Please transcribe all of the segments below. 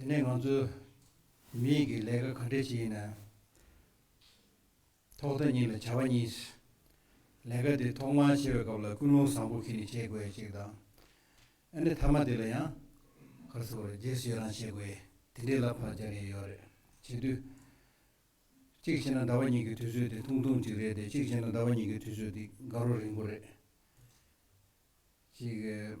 དེ་ནས་ང་ཚོས་མི་ཡིག་གི་ལས་ཀ་ག་འདྲས་བྱེད་ཡིན་ན། ཐོག་མཐའ་གཉིས་ལ་བྱ་བ་གཉིས། ལས་ཀ་དེ་ཐོག་མར་བྱེད་པའི་སྐབས་ལ་ཀུན་སློང་བཟང་པོ་ཁྱེད་ནས་བྱེད་དགོས་ཡ་གཅིག་དང། ཨ་ནི་མཐའ་མ་དེ་ལ་ཡང། ཁ་སོ་རེ་རྗེས་སུ་ཡོད་རང་བྱེད་དགོས་ཡ་དེ་འདྲས་ལ་བར་སྦྱར་ཡས་ཡོད་རེད། བྱེད་དུས། གཅིག་བྱེད་ན་ཟླ་བ་གཉིས་ཀྱི་དུས་ཚོད་དེ་ཐུང་ཐུང་གཅིག་རེད་དེ་གཅིག་བྱེད་ན་ཟླ་བ་གཉིས་ཀྱི་དུས་ཚོད་དེ་དགའ་རོགས་རིང་པོ་རེད། གཅིག།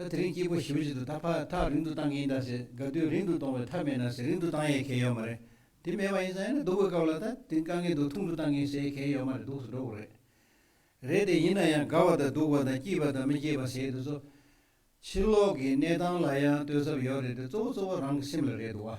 ད་དེ་རིང་སྐྱིད་པོ་ཞིམ་བཞིན་དུ་ད་ཕར་ཐག་རིང་དུ་བཏང་གི་ཡིན་ད་ཟེར་དགའ་དུས་རིང་དུ་གཏོང་བའི་ཐབས་མེད་ན་ཟེར་རིང་དུ་བཏང་ཡས་གལ་ཡོད་མ་རེད་དེ་མེད་པ་ཡིན་ས་ཡིན་ན་སྡུག་གི་སྐབས་ལ་ད་དེ་དཀའ་ངལ་དུ་ཐུང་དུ་བཏང་གིན་ཟེར་གལ་ཡོད་མ་རེད་སྡུག་སུ་འགྲོ་གི་རེད་རེད་དེ་ཡིན་ན་ཡང་དགའ་བ་དང་སྡུག་པ་དང་སྐྱིད་པ་དང་མི་སྐྱིད་པ་ཟེར་དུས་ཚོ་ཕྱི་ལོག་གི་གནས་སྟངས་ལ་ཡང་ལྟོས་ཟབ་ཡོད་རེད་དེ་གཙོ་བོ་གཙོ་བོ་རང་གི་སེམས་ལ་རེད་འདུག་བ།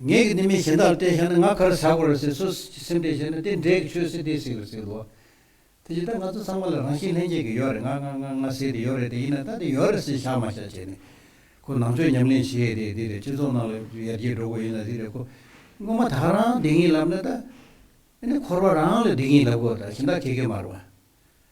ངེད་ཀྱི་ནི་མི་གཞན་དག་ལ་བལྟས་བཞག་ན་ང་གར་བཞག་དགོས་རེད་ཟེར་སུས་ཀྱི་སེམས་བལྟས་བཞག་ན་དེ་འདྲས་ཀྱི་ཆོས་སྲིད་དེ་ཞིག་རེད་ཟེར་དགོས། དེ་བཞིན་ད་ང་ཚོ་ཚང་མ་ལ་རང་བཞིན་ལྷན་སྐྱེས་ཀྱི་ཡོད་རེད་ང་ང་ང་ང་ཟེར་དེ་ཡོད་རེད་དེ་ཡིན་ན་ད་དེ་ཡོད་རེད་ཟེར་བཞག་མ་བཞག་བྱས་ནས་ཁོ་ནང་ཆོས་ཉམས་ལེན་བྱེད་དེ་དེ་རེད་སྤྱི་ཚོགས་ནང་ལ་ཡར་རྒྱས་འགྲོ་དགོས་ཡིན་ན་དེ་རེད་ཁོ་སྔོན་མ་ཐག་རང་བདེ་སྐྱིད་ལབ་ན་ད་ནི་འཁོར་བ་རང་ལ་བདེ་སྐྱིད་ལབ་དགོས་ད་གཞན་དག་ཁེ་ཁེ་མར་བ།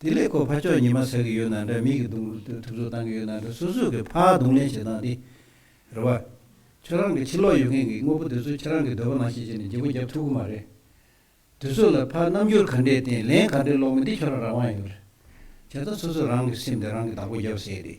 དེ་ལས་ཁོ་ཕར་ཕྱོགས་ཉི་མ་ཟེར་གི་ཡོད་ན་འདྲ་མིག་གི་གདུང་རུས་ཐུབ་ཐུབ་བཏང་གི་ཡོད་ན་འདྲ་སོ་སོས་ཀྱི་ཕར་གདུང་ལེན་བྱེད་སྟངས་འདི་རེད་བ། ཁྱོད་རང་གི་ཕྱི་ལོག་ཡོད་མཁན་གྱི་དངོས་པོ་དེ་ཚོ་ཁྱེད་རང་གི་འདོད་པ་ནང་བཞིན་བྱས་ནས་བརྗེ་པོ་བརྒྱབ་ཐུབ་གི་མ་རེད། དུས་ཚོད་ལ་ཕར་རྣམ་འགྱུར་ག་འདྲའི་བརྟེན་ལན་ག་འདྲའི་ལོག་མིན་འདི་ཁྱོད་རང་རང་དབང་ཡོད་རེད། བྱས་ཙང་སོ་སོས་རང་གི་སེམས་དེ་རང་གིས་བདག་པོ་བརྒྱབ་ཟེར་གི་རེད།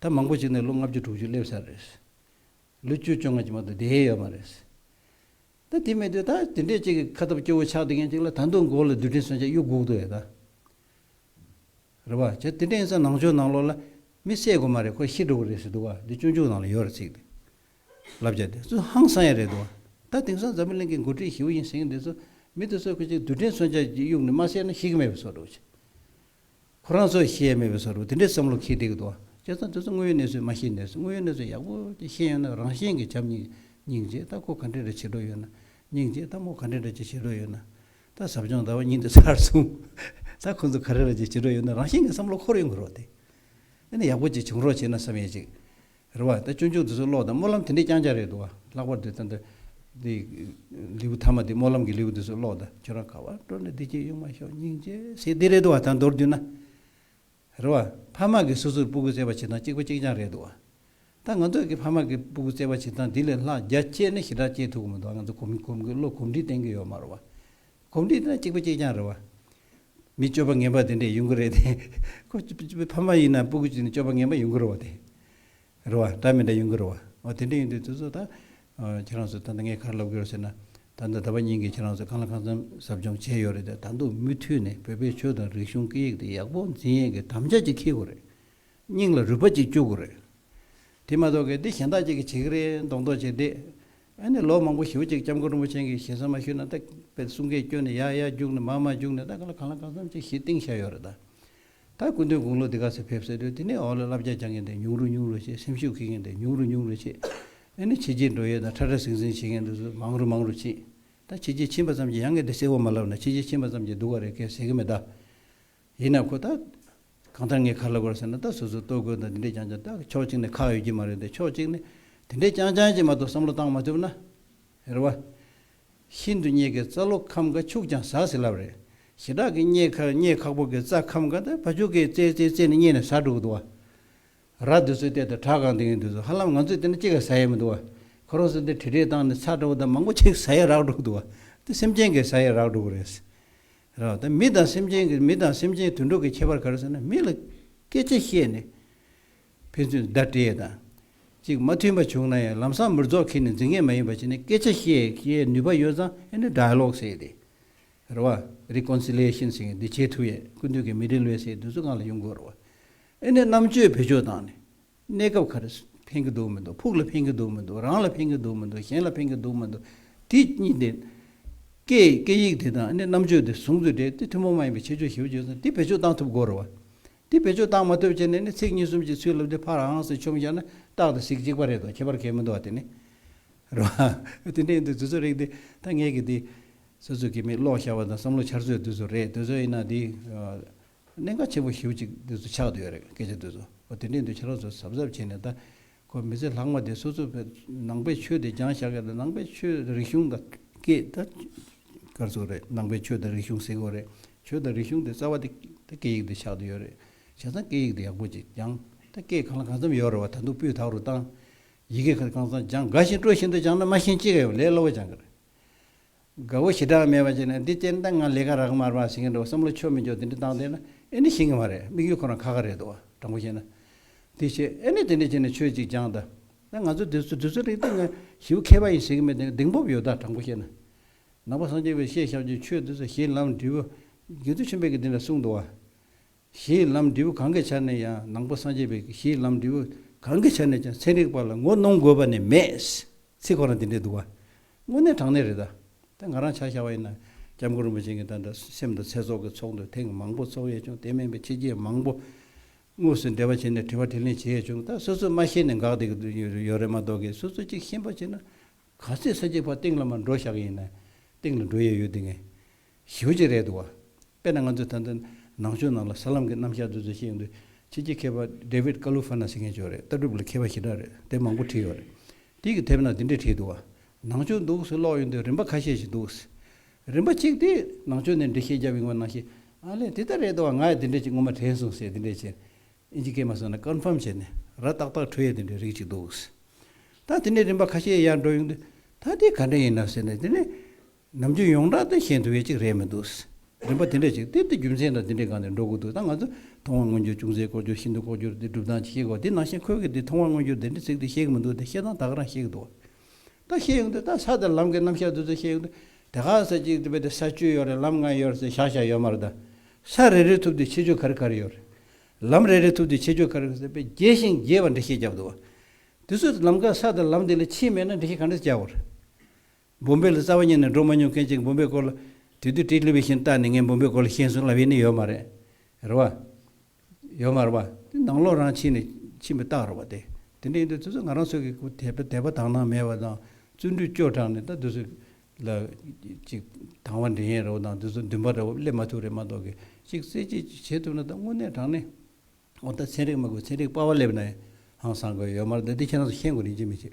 ད་མང་པོ་ཞིག་ནས་ལོ་ལྔ་བཅུ་དྲུག་ཅུ་སླེབས་ས་རེད། ལོ་བཅུ་བཅོ་ལྔ་ཀྱི་མ་ཏོག་བསྡད་ཡོད་མ་རེད། ད་དེ་མེད་དུས་ད་དེ་འདྲས་ཅིག་གི་ཁ་སྟབས་སྐྱོ་བོ་ཆགས་བསྡད་མཁན་ཅིག་ལ་ད་འདུག་མགོ་ལ་རྡུལ་ཕྲན་སོན་ཆ་གཡུག་སྒུག་ཏུ་ཡོད་ད། རེད་བ། བྱས་དེ་འདྲས་ཡིན་ས་ནང་ཆོས་ནང་ལོག་ལ་མི་བསད་དགོས་མ་རེད་ཁོ་ཤི་འགྲོ་གི་རེད་ཟེར་འདུག་བ་འདི་སྤྱོད་འཇུག་ནང་ལ་ཡོད་རེད་ཚིག་དེ་ལབ་བྱ་དེ་ཚོ་ཧང་སང་ཡ་རེད་འདུག་བ། ད་དེང་སང་འཛམ་བུ་གླིང་གི་མགོ་ཁྲིད་ཞི་བོ་ཡིན་ཟེར་མཁན་དེ་ཚོ་མི་དེ་ཚོ་གི་ཅིག་རྡུལ་ཕྲན་སོན་ཆ་གཡུག་ནས་མ་བསད་ན་ཤི་གི་མེད་པའི་ཚོར་འདུག་བྱས། ཁོ་རང་ཚོས་ཤེས་ཡ་མེད་པའི་ས་རུ་དེ་འདྲའི་བསམ་བློ་ཁེལ་བསྡད་ཀྱི་འདུག་ཨང། སྤྱིར་བཏང་དེ་ཚོ་དངོས་ཡོད་གནས་ཚུལ་མ་ཤེས་ནས་སོ། དངོས་ཡོད་གནས་ཚུལ་ཡག་པོ་ཅིག་ཤེས་ཡོད་ན་རང་གཞན་གྱི་བྱམས་སྙིང། སྙིང་རྗེ་ལྟ་སྐོར་ག་འདྲའི་འདྲ་བྱེད་འགྲོ་ཡོད་ན། སྙིང་རྗེ་ལྟ་མོ་ག་འདྲའི་འདྲ་ཅིག་བྱེད་འགྲོ་ཡོད་ན། ད་ཟབ་སྦྱོང་ཟླ་བ་གཉིས་འདི་ཚར་བཟུང། ད་ཁོ་ཚོ་ག་རེ་ར་ཅིག་བྱེད་འགྲོ་ཡོད་ན་རང་གཞན་གྱི་བསམ་བློ་འཁོར་ཡོང་གི་རོགས་ཏེ། ཨ་ནི་ཡག་པོ་ཅིག་བྱུང་རོགས་བྱས་ན་བསམ་ཡས་ཅིག། རེད་བ། ད་ཅོ་ཅོ་འདི་ཚོ་ཀློག་དང་སྨོན་ལམ་དེ་འདྲས་རྐྱང་རྐྱང་རེད་འདུག་བ། ལྷག་པར་དུ་ད་ལྟ་འདི་ལེའུ་ཐ་མ་འདི་སྨོན་ལམ་གྱི་ལེའུ་འདི་ཚོ་ཀློག་ད་ཁྱོད་རང་ག་བར་འགྲོ་ནས་འདི་སྐྱེས་གཡུག་མ་ཤོག་སྙིང་རྗེ་ཟེར་འདི་རེད་འདུག་བ་ད་མདོར་བསྡུས་ན། རེད་བ། ཕ་མ་གིས་སོ་སོར་སྤུ་གུ་བཙས་པ་བྱེད་སྟངས་གཅིག་པ་གཅིག་རྐྱང་རེད་འདུག་བ། ད་ང་ཚོ་གིས་ཕ་མ་གིས་སྤུ་གུ་བཙས་པ་བྱེད་སྟངས་འདི་ལས་ལྷག་རྒྱ་སྐྱེད་ནི་ཞེ་དྲག་སྐྱེད་ཐུབ་ཀྱི་མི་འདུག་བ་ང་ཚོ་གོམས་གོམས་ཀྱི་བློ་གོམས་འདྲིས་བསྟན་གྱི་ཡོད་མ་རེད་བ། གོམས་འདྲིས་ན་གཅིག་པ་གཅིག་རྐྱང་རེད་བ། མི་སྤྱོད་པ་ངན་པ་དེ་འདྲས་ཡོང་གི་རེད་དེ། ཁོ་ཕ་མ་ཡིན་ན་སྤུ་གུ་བྱས་ནས་སྤྱོད་པ་ངན་པ་ཡོང་གི་རེད་བ་དེ། རེད་བ། འདྲ་མི་འདྲ་ཡོང་གི་རེད་བ། འོ་དེ་འདྲས་ཡོང་དུས་དེ་ཚོ་ད། ཁྱེད་རང་ཚོ་ད་ནི་ངའི་ཁར་ལབ་གི་རོགས་ཟེར་ན། ད་ནི་ད་པ་ཉིན་གྱི་ཁྱེད་རང་ཚོ་གང་ལ་གང་འཚམ་ཟབ་སྦྱོང་བྱས་ཡོད་རེད་དེ་ད་འདུག་མུ་མཐུད་ནས་བོད་པའི་ཆོས་དང་རིག་གཞུང་སྐད་ཡིག་དེ་ཡག་པོ་འཛིན་ཡས་ཀྱི་དམ་བཅའ་ཅིག་འཁེལ་དགོས་རེད། སྙིང་ལ་རུས་པ་ཅིག་བཅུག་དགོས་རེད། དེ་མ་གཏོགས་གལ་ཏེ་གཞན་དག་ཅིག་གིས་བྱེད་ཀྱི་རེད་མདོག་མདོག་བྱས་དེ། ཨ་ནི་ལོ་མང་པོ་ཞིག་ཅིག་སྐྱབས་མགོན་རིན་པོ་ཆེན་གྱི་ཞལ་གསང་མ་ཞུས་ན་ད་པའི་གསུང་སྐད་སྐྱོན་ནི་ཡག་ཡག་རྒྱུགས་ནས་མ་མ་རྒྱུགས་ནས་ད་ག་ལ་གང་ལ་གང་འཚམ་ཅིག་ཞིག་གཏིང་ཤར་ཡོད་རེད་ད། ད་སྐུ་མདུན་དགུང་ལོ་འདི་ག་ཚེ་ཕེབས་སེ་དུས་དེ་ནས་འོག་ལ་བསླབ་བྱ་སྦྱང་མཁན་དེ་ཉུང་རུ་ཉུང་རུ་ཆེ་སེམས་ཤུགས་འཁེལ་མཁན་དེ་ཉུང་རུ་ཉུང་རུ་ཆེ། ཨ་ནི་ཕྱི་རྒྱལ་འགྲོ་ཡས་དང་ཁྲ་ཁྲ་ཟིང་ཟིང་བྱེད་མཁན་དེ་ཚོ་མང་རུ་མང་རུ་ཕྱིན། ད་ཕྱི་རྒྱལ་ཕྱིན་པ་ཙམ་གྱིས་ཡང་གལ་ཏེ་གསལ་བོ་མ་ལབ་ན་ཕྱི་རྒྱལ་ཕྱིན་པ་ཙམ་གྱིས་སྡུག་བ་རེད་སྐད་ཟེར་གི་མེད་ད། ཡིན་ནའང་ཁོ་ཐག། གང་ལྟར་ངས་ག་ལ་གོ་ཟེར་ན་ད་སོ་སོའི་ལྟོ་གོས་དང་དེ་འདྲས་ཀྱང་ཀྱང་ད་ཕྱོགས་གཅིག་ནས་ཁག་ཡོད་ཀྱི་མ་རེད་དེ་ཕྱོགས་གཅིག་ནས་དེ་འདྲས་ཀྱང་ཀྱང་ཀྱིས་མ་གཏོགས་བསམ་བློ་བཏང་མ་ཐུབ་ན། རེད་བ། ཤིན་ཏུ་རྙེད་དཀའི་རྩ་ལོ་ཁམ་ག་ཕྱུགས་ཀྱང་ཟ་ཟི་ལབ་རེད། ཞེ་དྲག་གི་རྙེད་ཁ་རྙེད་ཁག་པོ་གི་རྩ་ཁམ་ག་ད་ཕ་ཕྱུགས་གིས་རྩེ་རྩེ་རྩེ་ནས་རྙེད་ནས་ཟ་འགྲོ་གི་འདུག་བ། ར་དེ་ཚོའི་སྟེང་དུ་བྲག་གང་དེ་ཡིན་དུས་སུ་ཧ་ལམ་ང་ཚོས་དེ་ནས་ཅི་ག་ཟ་ཡས་མི་འདུག་བ། ཁོ་རང་ཚོ་དེ་དྲི་དྲི་བཏང་ནས་ཚ་དྲ་བོ་དང་མང་པོ་ཅིག་ཟ་ཡས་རག་འགྲོ་གི་འདུག་བ། དེ་སེམས་ཅན་གིས་ཟ་ཡས་རག་འགྲོ་གི་རེད། རོ། དེ་མི་དང་སེམས་ཅན་གྱི་མི་དང་སེམས་ཅན་དུད་འགྲོ་གི་ཁྱད་པར་ག་རེ་ཟེར་ན་མི་ལ་སྐད་ཆ་བཤད་ནས་ཕན་ཚུན་བརྡ་སྤྲད་དང། ཅིག་མ་མཐུན་པ་བྱུང་ན་ཡང་ལམ་སང་མིར་རྫོགས་ཁེལ་ནས་འཛིང་ངེས་མ་ཡིན་པ་བྱས་ནས་སྐད་ཆ་བཤད་ཤེས་ནུས་པ་ཡོད་ཙང་ཨེ་ནི Dialogue ཟེར་ཏེ། རོ། Reconciliation ཟེར་གི་འདི་བྱེད་ཐུབ་ཡས་ཀུན་འདུས་ཀྱི་མི་དྲིན་ལོས་སེལ་དུས་ཚོད་སྔར་ལ་ཡོང་དགོས་རོ། ཨེ་ནི་རྣམ་དཔྱོད་བེད་སྤྱོད་བཏང་ནས་གནས་སྐབས་ཁར་ཕན་གི་འདུག་མི་འདུག་ཕུགས་ལ་ཕན་གི་འདུག་མི་འདུག་རང་ལ་ཕན་གི་འདུག་མི་འདུག་གཞན་ལ་ཕན་གི་འདུག་མི་འདུག་དེ་གཉིས་དེ། སྐད་སྐད་ཡིག་དེ་དང་ནི་རྣམ་དཔྱོད་དེ་ཟུང་དུ་སྦྲེལ་ཏེ་ཐུན་མོང་མ་ཡིན་པའི་ཁྱད་ཆོས་ཞིབ་བརྗོད་ཚུལ་དེ་བེད་སྤྱོད་བཏང་ཐུབ་དགོས་རུང་བ། དེ་བེད་སྤྱོད་བཏང་མ་ཐུབ་བྱས་ནས་ནི་ཚིག་གཉིས་གསུམ་གྱི་ཚུལ་ལབ་སྟེ་ཕར་ཧང་སེ་ཆོམ་བཞག་ན་རྟག་ཏུ་ཚིག་གཅིག་པ་རེད་དོ་ཁྱད་པར་གལ་མི་འདུག་བ་དེ་ནི་རེད། དེ་འདྲ་ཡིན་དུས་དུས་ཚོད་རིག་དེ་ཐ་སྙད་ཀྱི་དེ། སོ་སོ་གི་མིག་ལོག་ཤར་བ་དང་བསམ་བློ་འཆར་ཚོད་དུས་ཚོད་རེད་དུས་ཚོད་ཡིན་ན་དེ། གནད་འགག་ཆེན་པོ་བཞི་བོ་གཅིག་དུས་སུ་ཆགས་འདུག་ཡོད་རེད་སྐད་ཆ་དུས་སུ་འོ་དེ་འདྲའི་འདུག་ཁྱེད་རང་ཚོ་གཟབ་གཟབ་བྱས་ནས་ད་ཁོ་མི་ཚེ་ལྷག་མ་དེ་སོ་སོ་པའི་ནང་པའི་ཆོས་དེ་སྦྱང་བཞག་གི་ད་ནང་པའི་ཆོས་རིག་གཞུང་དང་སྐད་ད་སྐར་ཚོགས་རེད་ནང་པའི་ཆོས་དང་རིག་གཞུང་ཟེར་གོ་རེད་ཆོས་དང་རིག་གཞུང་དེ་རྩ་བ་དེ་ད་སྐད་ཡིག་དུ་ཆགས་འདུག་ཡོད་རེད་བྱས་ཙང་སྐད་ཡིག་དེ་ཡག་པོ་ཅིག་སྦྱང་ད་སྐད་གང་ལ་གང་འཚམ་ཡོད་རེད་བ་ད་འདུག་སྤུས་དག་རུ་བཏང་ཡི་གེ་གང་འཚམ་སྦྱང་དགའ་བཞིན་སྤྲོ་བཞིན་དུ་སྦྱང་ན་མ་ཤེས་ཅི་ག་ཡོད་ལས་སླ་བོ་སྦྱང་གི་རེད་དགའ་བོ་ཞེ་དྲག་མེད་པ་བྱས་ནས་འདི་སྤྱིར་བདག་ང་ལས་ཀ་རག་མར་མར་ཟིན་གྱི་འདུག་བསམ་བློ་ཆོ་མི་འཇོག་དེ་འདྲི་བཏང་བསྡད་ན་ཨེ་ནི་ཞིན་གྱི་མ་རེད་དམིགས་ཡུལ་ཁོ་རང་ཁ་ཁ་རེད་འདུག་དྲང་པོ་བཤད་ན། དེ་བྱས་ཨེ་ནི་དེ་འདྲི་བྱས་ནས་ཆོས་ཅིག་སྦྱངས་ད། ད་ང་ཚོ་དེ་ཚོ་དུས་ཚོད་རིང་སྟེ་ང་ཞི་བུ་མཁས་པ་ཡིན་ཟེར་གྱི་མེད་དེ་གདེང་སྤོབས་ཡོད་ད་དྲང་པོ་བཤད་ན། ནང་པ་སངས་རྒྱས་པས་བཤད་བཞག་ཆོས་ཆོས་དེ་ཚོ་གཞན་ལམ་འབྲས་བུ། དགེ་ཚུལ་ཆེན་པོས་ཀྱི་དེ་འདྲ་གསུངས་འདུག་བ། གཞི་ཡི་ལམ་འབྲས་བུ་གང་གི་ཆ་ནས་ཡང་ནང་པ་སངས་རྒྱས་པའི་གཞི་ཡི་ལམ་འབྲས་བུ་གང་གི་ཆ་ནས་ཀྱང་ཚན་རིག་པ་ལ་ངོ་གནོང་དགོས་པ་ནི་མེད། ཚིག་ཁོ་རང་དེ་འདྲའི་འདུག་བ། དངོས་གནས་དྲང་གནས་རེད་ད། དེ་ང་རང་བྱ་བཞག་བ་ཡིན་ན། སྐྱབས་མགོན་རིན་པོ་ཆེ་གི་འདྲ་འདྲ་སེམས་དང་ཚེ་སྲོག་གི་ཚོགས་འདུ་ཐེངས་མང་པོ་ཚོགས་ཡས་བྱུང་དེ་མིན་པའི་ཕྱི་རྒྱལ་མང་པོ། དངོས་སུ་འབྲེལ་བ་བྱས་ནས་དྲི་བ་དྲི་ལན་བྱེད་ཡས་བྱུང་ད་སོ་སོས་མ་ཤེས་ནས་འགག་བསྡད་ཀི་ཡོད་རེད་མ་གཏོགས་ཀི་སོ་སོས་གཅིག་ཤེས་པ་བྱས་ན། ག་ཚོད་ས་སྐྱེས་ཕག་སྟེང་ལ་མ་འགྲོ་ཞག་ཡིན་ན། སྟེང་ལ་འགྲོ་ཡས་ཡོད་དེ་ངས། ཞི་བ་བཅས་རེད་འདུག་བ། དཔེར་ན་ང་ཚོས་ད་ལྟ་ནང་ཆོས་ནང་ལ་ས་ལམ་གྱི་རྣམ་གཞག་འདི་ཚོ་བཤད་ཀྱིན་འདུག་ཕྱི་རྒྱལ་མཁས་པ David Calufana ཟེར་མཁན་བྱུང་རེད་ལྟ་གྲུབ་ལ་མཁས་པ་ཞེ་དྲག་རེད་དེ་མང་པོ་བྲིས་ཡོད་རེད། དེ་ཡིག་དེབ་ནང་དེ་འདྲས་བྲིས་འདུག་བ། ནང་ཆོས་འདུག་ཟེར་ཀློག་ཡོང་དུས་རིམ་པ་ཁ་ཤས་ཤིག་འདུག། རིམ་པ་གཅིག་དེས་ནང་ཆོས་འདི་འདྲས་ཤེས་རྒྱབ་ཡོང་བ་ནང་ཤེས། ཨ་ལས་དེ་ལྟར་རེད་འདུག་བ་ང་ཡང་དེ་འདྲས་ཅིག་སྔོན་མ་དྲན་སོང་ཟེར་དེ་འདྲས་བྱས། ཨིན་ཇི་སྐད་མ་སོང་ན Confirm བྱས་ནས་ར་ཏག་ཏག་འཕྲོད་ཡས་དེ་འདྲས་རིགས་ཅིག་འདུག། ད་དེ་འདྲས་རིམ་པ་ཁ་ཤས་ཡར་འགྲོ་ཡོང་དུས་ད་དེ་ག་འདྲས་ཡིན་ནམ་ཟེར་ནས་དེ་འདྲས། ནམ་རྒྱུན་ཡོངས་གྲགས་དང་གཞན་དུ་བས་གཅིག་རེད་མི་འདུག། རིམ་པ་དེ་འདྲ་ཞིག་དེབ་དེ་རྒྱུ་མཚན་དང་དེ་འདྲའི་སྒང་ནས་འགྲོ་དགོས་འདུག་ད་ང་ཚོས་མཐོང་བ་མངོན་གྱུར་ཅུང་ཟད་ལྐོག་གྱུར་ཤིན་ཏུ་ལྐོག་གྱུར་དེ་སྒྲུབ་སྟངས་ཅིག་ཤེས་དགོས་དེ་ནང་བཞིན་ཁོས་གིས་དེ་མཐོང་བ་མངོན་གྱུར་དེ་འདྲའི་ཚིག་དེ་ཤེས་གི་མི་འདུག་དེ་ཤེས་སྟངས་དག་རང་ཤེས་གི་འདུག་ད་ཤེས་ཡོང་དུས་ད་ས་དེར་ལམ་གི་རྣམ་བཞག་དུས་ཚོད་ཤེས་ཡོང་དུས་དེ་ག་ས་ཅིག་རེད་པས་དེ་ས་བཅུ་ཡོད་རེད་ལམ་ལྔ་ཡོད་རེད་ཟེར་ཤག་ཤག་ཡོད་མ་རེད་ད་ས་རེ་རེ་ཐུབ་དུས་ཆེ་ཆུང་ག་རེ་ག་རེ་ཡོད་རེད། ལམ་རེ་རེ་ཐུབ་དུས་ཆེ་ཆུང་ག་རེ་ག་རེ་ཟེར་པས་རྒྱས་ཤིང་རྒྱས་པ་འདྲ་ཤེས་རྒྱབ་འདུག་དུས་ཚོད་དུ་ལམ་ཀ་ས་དེར་ལམ་དེ་ལས་ཕྱིན་མེད་ན་འདྲ་ཤེས་ག་འདྲ་ཟེར་རྒྱབ། བུམ་པའི་ལ་རྩ་བ་ཉིད་ནས་འགྲོ་མ་མྱོང་མཁན་གཅིག་བུམ་པའི་སྐོར་ལ། དུས་དུས་བཀྲིས་ལྷུན་པའི་ཤིང་རྟ་ནི་ངས་བུམ་པའི་སྐོར་ལ་ཤེས་གསུངས་ལབ་ཡས་ནི་ཡོད་མ་རེད། རེད་བ། ཡོད་མ་རེད་བ། དེ་ནང་ལོག་རང་ཕྱིན་ནས་ཕྱིན་པའི་རྟགས་རེད་བ་དེ། དེ་འདྲ་ཡིན་དུས་ཚོད་ཚོད་ང་རང་ཚོད་ཀྱི་དད་པ་དད་པ་དང་ནང་མེད་བ་དང་བརྩོན་འགྲུས་སྐྱོ་དྲགས་ནས་ད་དུས་ཚོད་ལ། ཅིག་དང་བ་འདྲེན་ཡས་རེད་བ་དང་དུས་ཚོད་འདུན་པ་འདྲ་བོ་སླེབས་མ་ཐུབ་རེད་མ་གཏོགས་གི་ཅིག་རྩེད་སྤྱད་ཅིག་བྱེད་ཐུབ་ན་ད་དངོས་གནས་དྲང་གནས། ཨོ་ད་ཚན་རིག་མ་དགོས་ཚན་རིག་དཔའ་བ་སླེབས་ནའང་བཟང་དགོས་ཡོད་མ་རེད་འདི་ཁྱེད་རང་ཚོ་ཤེས་དགོས་རིན་ཆེན་མི་ཆེ།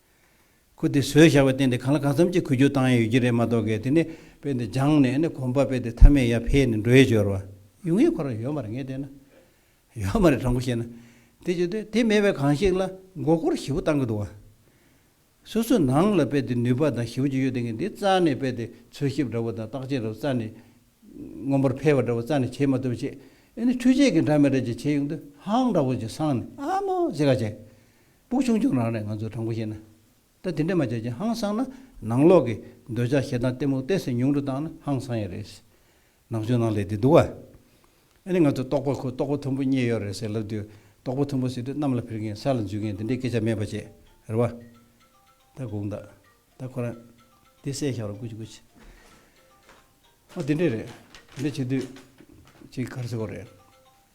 ཁུ་དེ་ཟོས་བཞག་པའི་སྟེང་དེ་གང་ལ་གང་འཚམ་གྱིས་ཁུ་རྒྱུག་བཏང་ཡ་ཡོད་ཀྱི་རེད་མ་གཏོགས་གས་དེ་ནས་དཔེ་འདི་སྦྱངས་ནས་ནི་གོམ་པ་སྤེལ་ཏེ་མཐའ་མའི་ཡ་ཕེ་ནི་འགྲོ་ཡི་སྦྱོར་བ་ཡུན་ངེས་ཁོ་རང་ཡོད་མ་རེད་ངས་བལྟས་ན། ཡོད་མ་རེད་དྲང་པོ་བཤད་ན། དེ་བྱེད་དུས་དེ་མེད་པའི་གང་ཞིག་ལ་མགོ་སྐོར་བཞི་བོ་བཏང་གི་འདུག་བ། སོ་སོའི་ནང་ལ་དཔེ་དེ་ནུས་པ་དང་ཞི་བ་ཅིག་ཡོད་དེ་ངས་འདི་རྩ་ནས་དཔེ་དེ་འཚོལ་ཞིབ་འདྲ་བོ་དང་བརྟག་དཔྱད་འདྲ་བོ་རྩ་ནས། སྔོན་པོར་འཕེལ་བ་འདྲ་བོ་རྩ་ནས་བྱེད་མ་ཐུབ་བྱས། ཨེ་ནི་འཕྲུལ་ཆས་ཀྱིས་འདྲ་མི་འདྲ་ཅིག་བྱས་ཡོང་དུས་ཧང་འདྲ་བོ་ཅིག་སངས་ནས་ཨ་མོ་ཟེ་ག་བྱས། པུ་ཆུང་ཆུང་རང་རེད་ང་ཚོས་དྲང་པོ་བཤད་ན། ད་དེ་འདྲས་མ་བྱས་ཀྱི་ཧང་སང་ན་ནང་ལོག་གི་འདོད་ཆགས་ཞེ་སྡང་གཏི་མུག་གཏད་སའི་ཉུང་རུ་བཏང་ན་ཧང་སང་ཡ་རེད། ནག་ཆུ་ནང་ལས་དེ་འདུག་ཨ། ཨ་ནི་ང་ཚོས་རྟོགས་པ་ཁོ་རྟོགས་པ་མཐོན་པོ་རྙེད་ཡོད་རེད་ཟེར་ལབ་དུས་རྟོགས་པ་མཐོན་པོ་ཟེར་དུས་གནམ་ལ་འཕེར་མཁན་ས་ལ་འཛུལ་མཁན་དེ་འདྲའི་སྐད་ཆ་མེད་པ་བྱས་རེད་བ། ད་དགོངས་དག་ད་ཁོ་རང། དེ་སེ་ཞའོ་ར་ཀུ་ཆི་ཀུ་ཆི། ཨོ་དེ་འདྲས་རེད་དེ་འདྲས་བྱེད་དུས། ཅིག་གར་སེ་གོ་རེད།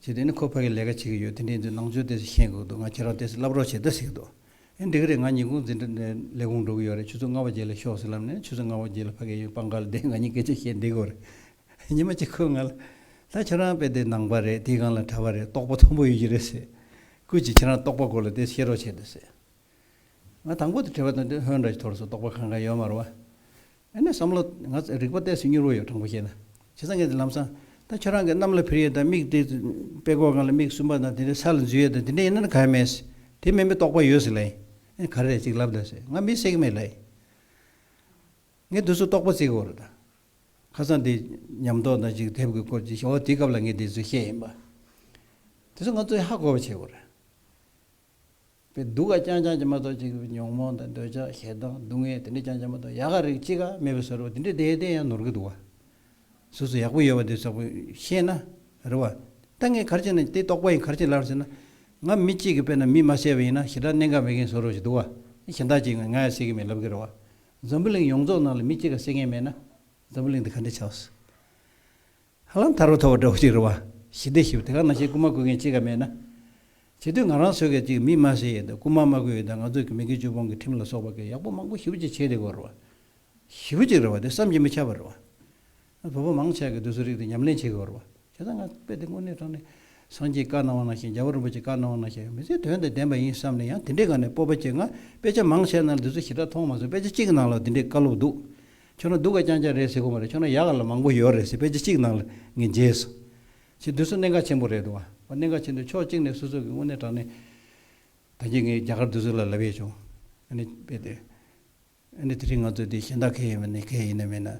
བྱས། དེ་ནི་ཁོ་ཕ་གི་ལས་ཀ་བྱེད་ཀྱི་ཡོད་དེ་འདྲའི་འདི་ནང་ཆོས་དེ་ཚོ་ཤེས་དགོས་འདུག་ང་ཁྱེད་རང་དེ་ཚོ་བསླབ་རོགས་བྱེད་ད་ཟེར་གྱི་འདུག་ཨེ་འགྲིག་གི་རེད་ང་ཉིན་གུང་འཛིན་གྲྭ་ནས་ལས་ཁུངས་འགྲོ་གི་ཡོད་རེད་ཆུ་ཚོད་ལྔ་བ་རྗེས་ལ་ཤོག་ཟེར་ལབ་ནས་ཆུ་ཚོད་ལྔ་བ་རྗེས་ལ་ཕ་གི་ཡོད་པ་འགའ་ལ་བསྡད་ང་གཉིས་སྐད་ཆ་བཤད་བསྡད་དགོས་རེད་ཉི་མ་གཅིག་ཁོས་ང་ལ། ད་ཁྱེད་རང་དཔེ་དེ་ནང་པ་རེད་དེའི་སྒང་ལ་གྲྭ་བ་རེད་རྟོགས་པ་མཐོན་པོ་ཡོད་ཀྱི་རེད་ཟེར། ཀུན་གྱིས་ཁྱེད་རང་རྟོགས་པ་སྐོར་ལ་དེ་ཚོ་བཤད་རོགས་བྱེད་ད་ཟེར། ང་དང་པོ་དེ་བྲིས་པ་དང་དེ་ཧོན་ར་ཅིག་ཐོར་སོང་རྟོགས་པ་གང་གང་ཡོད་མ་རུང་བ། ཨ་ནེ་བསམ་བློ། ང་ཚོ་རིག་པ་གཏད་སོ་མྱུར་བོ་ཡོད་དྲང་པོ་བཤད་ན། བྱས་ཙང་ངས་དེ་ལམ་སང། ད་ཁྱོད་རང་གི་གནམ་ལ་འཕུར་ཡས་དང་མིག་དེ། པད་གོག་གང་ལ་མིག་གསུམ་པ་དང་དེ་འདྲའི་ས་ལ་འཛུལ་ཡས་དང་དེ་འདྲའི་ཡིན་ན་ན་ག་ཡ་མེད། དེ་མིན་པའི་རྟོག་པ་ཡོད་སི་ལེ། ཨེ་ག་རེ་ཅིག་ལབ་ད་སི། ང་མི་སེག་མེད་ལེ། ངས་དུས་སུ་རྟོག་པ་བརྩི་གོ་རེ་ད། ཁ་སང་དེ། ཉམས་རྟོག་དང་ཅིག་དེབ་གི་སྐོར་ཅིག་བཤད་འོ་དེའི་སྐབས་ལ་ངས་དེ་ཚོ་བཤད་ཡིན་པ། དེ་ཚོ་ང་ཚོས་ཧ་གོ་བ་བྱེད་གོ་རེ། པའི་སྡུག་ཀ་ཅང་ཅང་ཅི་མ་རྟོགས་ཅི་གི་ཉོང་མོངས་དང་འདོད་ཆགས་ཞེ་སྡང་སྡུག་བསྔལ་དེ་འདྲས་ཅང་ཅང་མ་རྟོགས་ཡག་ག་རིགས་ཅི་ག་མེད་པའི་ཟོ་རུ་དེ་འདྲས་བསྡད་བསྡད་ཡང་ནོར་གི་འདུག་སོ་སོ་ཡག་པོ་ཡོད་པ་འདི་ཟོག་པོ་ཤེས་ན་རེ་བ། ལྟ་ངན་གར་བྱེད་ན་དེ་རྟོགས་པ་ཡིན་གར་བྱེད་ལར་ཟེར་ན། ང་མི་གཅིག་གི་དཔེ་ན་མི་མ་བསད་པ་ཡིན་ན་ཞེ་དྲག་གནད་འགག་མེད་མཁན་ཟོ་རུ་ཞིག་འདུག་ཨ་གཞན་དག་ཅིག་ང་ཡང་བསད་ཀི་མེད་ལབ་ཀི་རེ་བ། འཛམ་བུ་གླིང་ཡོངས་རྫོགས་ནང་ལ་མི་གཅིག་ག་བསད་མཁན་མེད་ན་འཛམ་བུ་གླིང་འདི་ག་འདྲས་ཆགས་སོ། ཧ་ལམ་ཐར་བ་ཐོབ་པ་འདྲ་བོ་ཞིག་རེད་བ། ཞི་བདེ་ཞི་བདེ་ག་ནང་བཞིན་རྐུ་མ་རྐུ་མཁན་གཅིག་ག་མེད་ན། བྱེས་སྡོད་ང་རང་ཚོས་ག་ཅིག་མི་སྨྲ་ཟེར་ཡོད་འདུག་རྐུ་མ་སྨྲ་དགོས་ཡོད་ད་ང་ཚོས་གི་མི་གི་ཆུ་བོང་གི་ཁྲིམས་ལ་སོགས་པ་གི་ཡག་པོ་མང་པོ་ཞི་བོ་ཅིག་བྱེད་དེ་གོ་རེད་བ། ཞི་བོ་ཅིག་རེད་བ་དེ་བསམ་གྱི་མི་ཆག་པ་རེད་བ། བོད་པ་མང་ཆག་གི་འདོད་ཚུལ་རིགས་དེ་ཉམས་ལེན་བྱེད་དགོས་རེད་བ། བྱས་ཙང་ང་དཔེ་དེ་དངོས་གནས་དྲང་ནས། སངས་རྒྱས་བཀའ་གནང་བ་ནང་བཞིན་རྒྱལ་བ་རིན་པོ་ཆེ་བཀའ་གནང་བ་ནང་བཞིན་ཡང་མི་ཚེའི་དོན་དང་ལྡན་པ་ཡིན་བསམ་ནས་ཡང་དེ་འདྲའི་ག་ནས་སྤོབས་པ་སྐྱེ་ང་དཔེ་ཆ་མང་ཆེ་གནང་ལ་འདི་ཚོ་ཞི་དྲག་མཐོང་མ་སོང་དཔེ་ཆ་གཅིག་གི་ནང་ལ་དེ་འདྲའི་བཀའ་སློབ་འདུག་ཁྱོད་རང་སྡུག་ག་རྐྱང་རྐྱང་རེད་ཟེར་གོ་མ་རེད་ཁྱོད་རང་ཡག་ག་ལ་མང་པོ་ཡོད་རེད་ཟེར་པས་ཅི་གཅིག་ནང་ལ་ངས་འཇལ་སོང། ཆེ་བསྡུས་སུ་གནད་འགག་ཆེན་པོ་རེད་འདུག་བ་གནད་འགག་ཆེན་དུ་ཕྱོགས་གཅིག་ནས་སོ་སོ་གིས་དངོས་གནས་དྲང་ནས། ད་རྒྱ་ངས་རྒྱ་གར་བསྡུས་སུ་ལ་ལབ་ཡས་བྱུང། ཨ་ནི་རྦད་དེ། ཨ་ནི་དེ་རིང་ང་ཚོ་དེ་གཞན་དག་གས་ཡིན་མིན་ནས་གས་ཡིན་ནས་མིན་ན།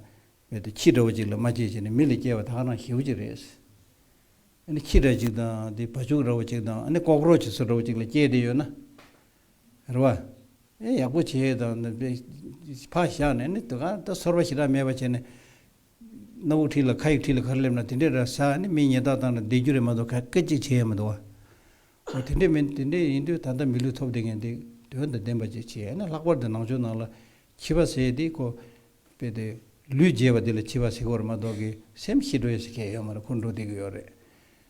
རྦད་དེ་ཁྱི་འདྲ་བོ་གཅིག་ལ་མ་སྐྱེས་བྱས་ནས་མི་ལ་སྐྱེས་བ་ད་ཁ་རང་ཞེའུ་གཅིག་རེད། ཨ་ནི་ཁྱི་འདྲ་གཅིག་དང་དེ་བ་ཕྱུགས་འདྲ་བོ་གཅིག་དང་ཨ་ནི་ཀོག་རོ་ཆི་སོ་འདྲ་བོ་གཅིག་ལ་སྐྱེས་བསྡད་ཡོད་ན། རེད་བ། ཨེ་ཡག་པོ་བྱས་ཡོད་དམ། ཕག་བཞག་ནས་ནི་དུ་གང་ད་ཚོར་བ་ཞིག་རག་མེད་པ་བྱས་ནས། སྣ་བུག་ཁྲིད་ལ་ཁ་ཡིག་ཁྲིད་ལ་ག་རེ་སླེབས་ན་དེ་འདྲས་ར་ས་ནི་མི་ཉེས་རྟགས་བཏང་ན་བསྡད་རྒྱུ་རེད་མ་གཏོགས་ག་སྐད་ཅིག་བྱས་ཡ་མི་འདུག་བ། འོ་དེ་འདྲས་མིན་དེ་འདྲས་ཡིན་དུས་ད་ལྟ་མི་ལུས་ཐོབ་བསྡད་མཁན་དེ་དོན་དང་ལྡན་པ་ཅིག་བྱས་ཡ་ན་ལྷག་པར་དུ་ནང་ཆོས་ནང་ལ་ཁྱི་བ་ཟེར་དེ་ཁོ། པས་དེ། ལུས་བརྗེས་པ་དེ་ལ་ཁྱི་བ་ཟེར་གོ་རེ་མ་གཏོགས་གི་སེམས་ཤི་འགྲོ་ཡ་ཟེར་མཁན་ཡོད་མ་རེད་འཁུར་འགྲོ་བསྡད་གི་ཡོད་རེད།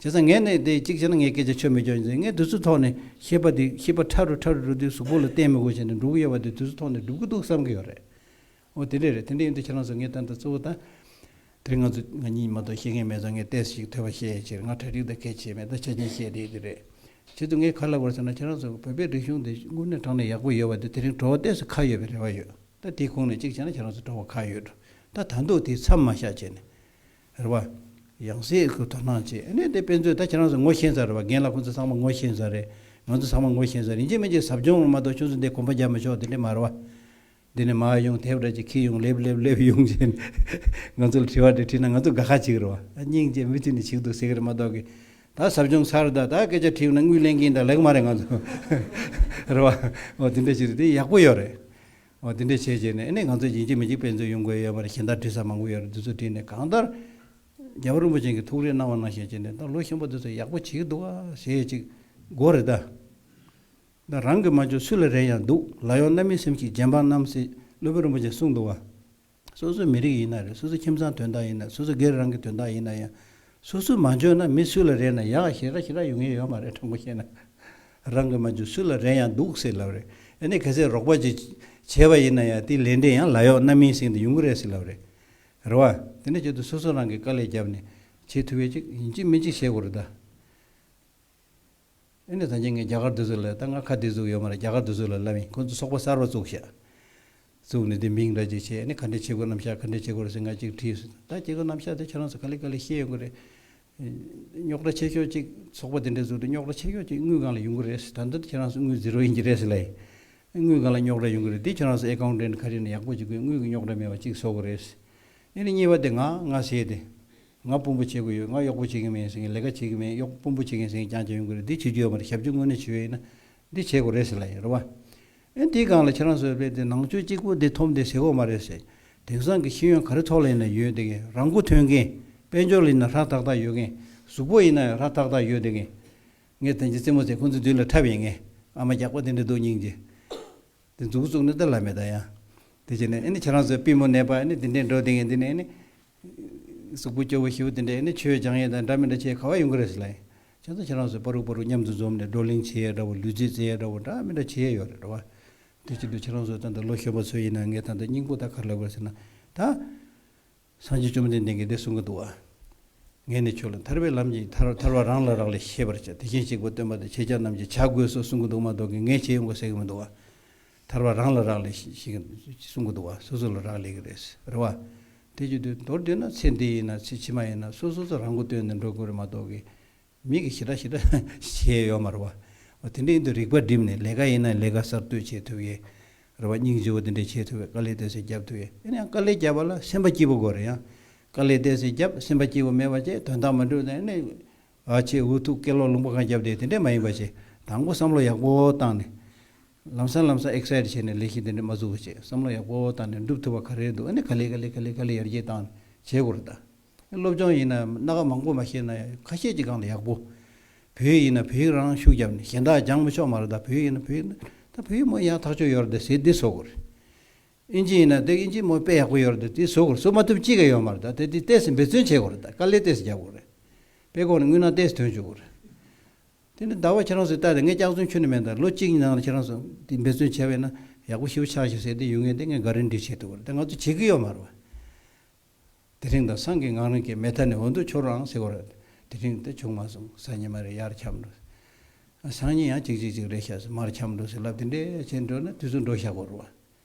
བྱས་ཙང་ངས་ནི་དེ་གཅིག་བྱས་ན་ངའི་སྐད་ཆ་ཆོད་མི་ཆོད་ཅེས་ངས་དུས་ཚོད་ཐོག་ནས་ཤེས་པ་དེ་ཤེས་པ་ཕྲ་རུ་ཕྲ་རུ་འགྲོ་དུས་གཟུགས་པོ་ལ་བརྟེན་མི་དགོས་བྱས་ནས་འགྲོ་གི་ཡོད་པ་དེ་དུས་ཚོད་ཐོག་ནས་སྒྲུབ་ཀྱི་འདུག་བསམ་གྱི་ཡོད་རེད། འོ་དེ་འདྲས་རེད་དེ་འདྲས་ཡིན་དུས་ཁྱེད་རང་ཚོས་ངའི་ཏན་ཏན་གཙོ་བོ་ད། དེར་ང་ཚོས་ང་གཉིས་མ་གཏོགས་ཤེས་མཁན་མེད་ཙང་ངས་ལྟས་སུ་ཞིག་ཐོས་པ་ཤེས་ཡོད་ཕྱིར་ང་གྲ་སྒྲིག་དང་གལ་ཆེ་མེད་ད་ཆ་ཅན་ཤེས་དེ་དེ་རེད། བྱས་ཙང་ངས་ག་ལ་བར་སོང་ན་ཁྱེད་རང་ཚོས་བོད་པའི་རིག་གཞུང་དེ་དངོས་གནས་དྲང་ནས་ཡག་པོ་ཡོད་པ་དེ་དེ་རིང་བྲོ་བ་ལྟས་སུ་ཁ་ཡོད་པའི་རེ་བ་ཡོད། ད་དེའི་ཁུངས་ནས་གཅིག་བྱས་ན་ཁྱེད་རང་ཚོས་བྲོ་བ་ཁ་ཡོད་འགྲོ། ད་ད་འདུག་དེའི་མཚམས་མ་བཞག་བྱས་ནས། རེད་བ། ཡང་ཟེར་ཨེ་དགོས་དོ་སྣང་བྱས་ཨེ་ནས་དེ་དཔེ་མཛོད་ད་ཁྱེད་རང་ཚོ་ངོ་ཤེས་ཚར་རེད་བ་རྒན་ལགས་ཁོང་ཚོ་ཚང་མ་ངོ་ཤེས་ཚར་རེད་ང་ཚོ་ཚང་མ་ངོ་ཤེས་ཚར་རེད་ཡིན་ཅི་མིན་ཅི་ཟབ་སྦྱོང་ལ་མ་གཏོགས་ཁྱོད་ཚོ་འདི་གོམ་པ་རྒྱབ་མི་ཆོག་དེ་འདྲས་མ་རེད་བ། འདི་ནས་མ་ཡོང་དེབ་ར་ཅིག་ཁིལ་ཡོང་ལེབ་ལེབ་ལེབ་ཡོང་བྱས་ནས་ང་ཚོ་ལ་དྲི་བ་འདྲས་དྲིས་ན་ང་ཚོ་དགའ་ཁ་ཅིག་རེད་བ། སྙིང་རྗེ་མུ་མཐུད་ནས་ཞིག་འདུག་ཟེར་གི་རེད་མ་གཏོགས་ཀི། ད་ཟབ་སྦྱོང་ཚར་ད་ད་སྐད་ཆ་དྲིས་ཡོང་ན་དངུལ་ལེན་གིན་ད་ལེགས་མ་རེད་ང་ཚོ། རེད་བ། འོ་དེ་འདྲས་ཞིག་རེད་དེ་ཡག་པོ་ཡོད་རེད། འོ་དེ་འདྲས་བྱས་བྱས་ནས་ཨེ་ནས་ང་ཚོས་ཡིན་གཅིག་མིན་གཅིག་དཔེ་མཛོད་ཡོང་དགོས་ཡོད་པ་རེད་གཞན་དག་བྲིས་ས་མང་པོ་ཡོད་རེད་འདི་ཚོ་བྲིས་ནས་གང་ལྟར། རྒྱལ་བ་རིན་པོ་ཆེན་གྱི་ཐུགས་རེ་གནང་བ་གནང་ཞེས་བྱས་ནས་ད་ལོ་གཤིན་པོ་འདི་ཚོ་ཡག་པོ་བྱེད་ཀྱི་འདུག་ཨ་ཞེས་ཅིག་མགོ་རེ་ད། ད་རང་གི་མ་འཇོག་སུ་ལ་རེ་ཡང་འདུག་ལ་ཡོང་རྣམ་མི་སེམས་ཤིག་རྗེ་འབངས་རྣམས་སེ་བློ་བོད་རིན་པོ་ཆེན་གསུངས་འདུག་ཨ། སོ་སོའི་མི་རིགས་ཡིན་ན་རེད་སོ་སོའི་ཁྱིམ་ཚང་དོན་དག་ཡིན་ན་རེད་སོ་སོའི་སྒེར་རང་གི་དོན་དག་ཡིན་ན་ཡང། སོ་སོས་མ་འཇོན་ན་མི་སུ་ལ་རེ་ན་ཡག་ཞེ་དྲག་ཞེ་དྲག་ཡོང་གི་ཡོད་མ་རེད་དྲང་པོ་བཤད་ན། རང་གིས་མ་འཇོན་སུ་ལ་རེ་ཡང་སྡུག་སེ་ལབ་རེད་ཨ་ནི་གལ་སྲིད་རོགས་པ་ཅིག་བྱས་པ་ཡིན་ན་ཡང་དེའི་ལས་འབྲས་ཡང་ལ་ཡོག་རྣམ་སྨིན་སྲིང་དུ་ཡོང་གི་རེད་སེ་ལབ་རེད་རེད་བ། དེ་འདྲ་བྱེད་དུ་སོ་སོ་རང་གིས་དཀའ་ལས་བརྒྱབ་ནས་བྱེད་ཐུབ་ཡོད་ཅིག་ཡིན་གཅིག་མིན་གཅིག་བྱེད་དགོས་རེད་ད། ཨེ་ནས་ཐང་ཆེན་ངས་རྒྱ་གར་དུས་ཚོད་ལ་ད་ང་ཁ་འདི་བཙུགས་ཡོད་མ་རེད་རྒྱ་གར་དུས་ཚོད་ལ་ལབ་ཡིན་ཁོ་ཚོས་སོག་པ་གསར་པ་བཙུགས་ཤག། བཙུགས་ནས་དེ་མིང་འདྲ་ཅིག་བྱས་ནས་ཁ་འདྲེ་ཆེ་དགོས་རྣམས་ཤག་ཁ་འདྲེ་ཆེ་དགོས་རེད་ཟེར་ང་གཅིག་བྲིས་སོ་ད་ཁྱེད་ཚོ་རྣམས་ཤག་དེ་ཁྱེད་རང་ཚོ་ག་ལེ་ག་ལེ་ཤེས་ཡོད་དགོས་རེད། རྙོག་དྲ་ཆེ་ཤོག་ཅིག་སོག་པ་དེ་འདྲ་བཙུགས་ཏེ་རྙོག་དྲ་ཆེ་ཤོག་ཅིག་དངུལ་གང་ལ་ཡོང་གི་རེད་ཟེར་ད་ལྟ་ཁྱེད་རང་ཚོ་དངུལ་ཛིརོ་ཡིན་གྱི་རེད་ཟེར་ལ་ཡིན། དངུལ་གང་ལ་རྙོག་དྲ་ཡོང་གི་རེད་དེ་ཁྱེད་རང་ཚོ་ཨེ་ཀའོ་འདྲེན་ཁ་རི་ནས་ཡག་པོ་ཅིག་དགོས་དངུལ་གྱི་རྙོག་དྲ་མེད་པ་ཅིག་བཟོ་དགོས་རེད། ཨེ་ནས་གཉིས་པ་དེ་ང་ང་ཟེར་དེ། ང་དཔོན་པོ་བྱེད་དགོས་ཡོད་ང་གཡོག་པོ་བྱེད་ཀྱིན་མེད་ཟེར་མཁན་ལས་ཀ་བྱེད་ཀྱིན་མེད་གཡོག་དཔོན་པོ་བྱེད་མཁན་ཟེར་མཁན་རྐྱང་རྐྱང་ཡོང་གི་རེད་འདི་བྱེད་རྒྱུ་ཡོད་མ་རེད་ཞབས་ཀྱི་ངོས་ནས་བྱེད་ཡོད་ན་འདི་བྱེད་དགོས་རེད་ཟེར་ལ་ཡིན་རེད་བ། ཨེ་འདི་སྒང་ལ་ཁྱེད་རང་ཚོའི་དཔེ་དེ་ནང་ཆོས་གཅིག་པོ་འདི་ཐོབ་འདི་བྱེད་དགོས་མ་རེད་ཟེར་དེང་སང་གི་ཤེས་ཡོན་ག་རེ་ཐོག་ལ་ཡིན་ན་ཡོད་དེ་གིན་རང་མགོ་ཐོན་གིན་དཔལ་འབྱོར་ལ་ཡིན་ན་ཧྲག་ཐག་ཐག་ཡོད་གིན་གཟུགས་པོ་ཡིན་ན་ཡང་ཧྲག་ཐག་ཐག་ཡོད་དེ་གིན། ངས་དེང་ཕྱིན་རྩེད་མོ་ཚེ་ཁོང་ཚོའི་མདུན་ལ་འཁྲབ་ཡིན་གིན་ཨ་མ་རྒྱགས་པ་དེ་འདྲ་འདུག་སྙིང་རྗེ། དེ་འཛུགས་བཙུགས་ནི་དེ་ལ་མེད་ད་ཡང་དེ་བྱས་ནས་ཨེ་ནི་ཁྱེད་རང་ཚོའི་པི་མོ་ནད་པ་ཨེ་ནི་དེ་འདྲས་འགྲོ་དེ་གིན་འདི་ནི་ཨེ་ནི་གཟུགས་པོ་སྐྱོ་བོ་ཤི་བོ་དེ་འདྲས་ནི་ཆོས་སྦྱང་ཡས་དང་འདྲ་མི་འདྲ་ཆེས་ཁ་བ་ཡུང་ཁ་རེ་ཟི་ལ་ཡིན། ཁྱེད་ཚོ་ཁྱེད་རང་ཚོས་པ་རུག་པ་རུག་མཉམ་དུ་འཛོམས་ནས་བགྲོ་གླེང་བྱེད་ཡས་འདྲ་བོ་ལུས་རྩེད་རྩེ་ཡས་འདྲ་བོ་འདྲ་མི་འདྲ་ཆེས་ཡོད་རེད་འདྲ་བ། དེ་བཞིན་དུ་ཁྱེད་རང་ཚོ་ད་ལྟ་ལོ་གཞོན་པ་ཚོ་ཡིན་ན་ངས་ད་ལྟ་སྙིང་པོ་དག་ག་རེ་ལབ་དགོས་ཟེར་ན། ད། སངས་རྒྱས་བཅོམ་ལྡན་འདས་ཀྱིས་འདི་གསུང་གི་འདུག་བ། ངས་ནི་ཁྱོད་ལ་ཐར་པའི་ལམ་གྱི་ཐར་ཐར་བ་རང་ལ་རག་ལས་ཤེས་པར་བྱ་དེ་བཞིན་གཤེགས་པ་སྟོན་པ་དང་ཁྱེད་ཅག་རྣམས་ཀྱིས་བྱ་དགོས་སོགས་གསུང་གི་འདུག་མ་གཏོགས་ཀྱི་ངས་བྱེད་ཡོང་དགོས་ཟེར་གི་མི་འདུག་བ། ཐར་བ་རང་ལ་རག་ལས་ཞེས་གསུང་གི་འདུག་བ་སོ་སོ་ལ་རག་ལས་ཀྱི་རེད་ཟེར་བ། དེ་ཅི་འདོད་མདོར་བསྡུས་ན་ཚེ་འདི་ཡིན་ན་ཚེ་ཕྱི་མ་ཡིན་ན་སོ་སོ་ཚོ་རང་མགོ་སྟོན་ནས་འགྲོ་དགོས་རེད་མ་གཏོགས་ཀྱི། མིག་གིས་ཞི་དྲག་ཞི་དྲག་བྱེད་ཡོད་མ་རེད་བ། དེ་འདྲའི་ཡིན་དུས་རིག་པ་བསྒྲིམས་ནས་ལས་ཀ་ཡིན་ན་ལས་ཀ་གསར་གཏོད་བྱེད་ཐུབ་ཡས་རེད་བ་སྙིང་རྗེ་བོ་དེ་འདྲས་བྱེད་ཐུབ་བས་དཀའ་ལས་གཏད་སའི་རྒྱབ་ཐུབ་ཡས་ཡིན་ཡང་དཀའ་ལས་རྒྱབ་བ་ལ་སེམས་པ་སྐྱིད་པོ་དགོས་རེད་ཡང་དཀའ་ལས་གཏད་སའི་རྒྱབ་སེམས་པ་སྐྱིད་པོ་མེད་བ་བཅས་དོན་དག་མི་འགྲུབ་ནས་ནས་བ་ཆེས་འུ་ཐུག་སྐད་ལོག་ལུང་པ་གང་རྒྱབ་བསྡད་དེ་འདྲས་མ་ཡིན་བ་ཞེས་དང་པོ་བསམ་བློ་ཡག་པོ་བཏང་ནས། ལམ་སང་ལམ་སང Excite བྱས་ནས་ལས་གཞི་འདི་འདྲ་མ་བཙུགས་པ་བྱས་བསམ་བློ་ཡག་པོ་བཏང་ནས་འགྲུབ་ཐུབ་པ་ག་རེ་འདུག་ཨ་ནི་ག་ལེ་ག་ལེ་ག་ལེ་ག་ལེ་ཡར་རྒྱས་བཏང་ནས་བྱེད་དགོས་རེད་ད། སློབ་སྦྱོང་ཡིན་ན་སྣ་ཁ་མང་པོ་མ་ཤེས་ན་ཁ་ཤས་ཀྱི་སྒང་ལ་ཡག་པོ། བོད་ཡིག་ཡིན་ན་བོད་ཡིག་རང་ཤུགས་བརྒྱབ་ནས་གཞན་དག་སྦྱང་མི་ཆོག་མ་རེད་ད་བོད་ཡིག་ཡིན་ན་བོད་ཡིག་ད་བོད་ཡིག་མོ་ཡག་ཐག་ཆོད་ཡོད་རེད་ད་ཟེར་དེ་བཟོ་དགོས་རེད། ཨིན་ཇི་ཡིན་ན་དེ་ཨིན་ཇི་མོ་དཔེ་ཡག་པོ་ཡོད་རེད་ད་དེ་བཟོ་དགོས་རེད་བཟོ་མ་ཐུབ་ཅི་ག་ཡོད་མ་རེད་ད་དེ་དེ་ཏེས་འབད་བརྩོན་བྱེད་དགོས་རེད་ད་དཀའ་ལས་ཏེས་རྒྱབ་དགོས་རེད། དཔེ་ཁོ་ནས་དངུལ་ནང་ཏེས་དོན་བྱུག་དགོས་རེད། དེ་ནི་ཟླ་བ་ཁྱེད་རང་ཚོས་བལྟ་སྟེ་ངས་སྐྱག་རྫུན་ཁྱོན་ནས་སྨྲས་དང་ལོ་གཅིག་གཉིས་ནང་ལ་ཁྱེད་རང་ཚོས་འདི་འབད་བརྩོན་བྱས་པས་ན་ཡག་པོ་ཞིབ་པོ་ཆགས་ཤིག་ཟེར་ཏེ་ཡུལ་ངན་དེ་ངས་ག་རེ་འདྲི་བྱེད་ཐུབ་བར་དེ་ང་ཚོས་བྱེད་ཀྱི་ཡོད་མ་རེད། དེ་རིང་དང་སང་གི་ངང་རིང་གི་མེ་ཐར་ནས་འོ་མདོ་ཁྱོར་རང་ཟེར་བར་དེ་རིང་དེ་བྱུང་མ་སོང་སང་ཉིན་མ་རེད་ཡར་འཁྱམས་འགྲོ། སང་ཉིན་ཡང་ཅིག་ཅིག་ཅིག་རེད་བཤད་སོང་མར་འཁྱམས་འགྲོ་ཟེར་ལབ་དེ་འདྲས་བྱས་འགྲོ་ན་དུས་ཚོད་འགྲོ་ཤག་གོ་རུང་བ།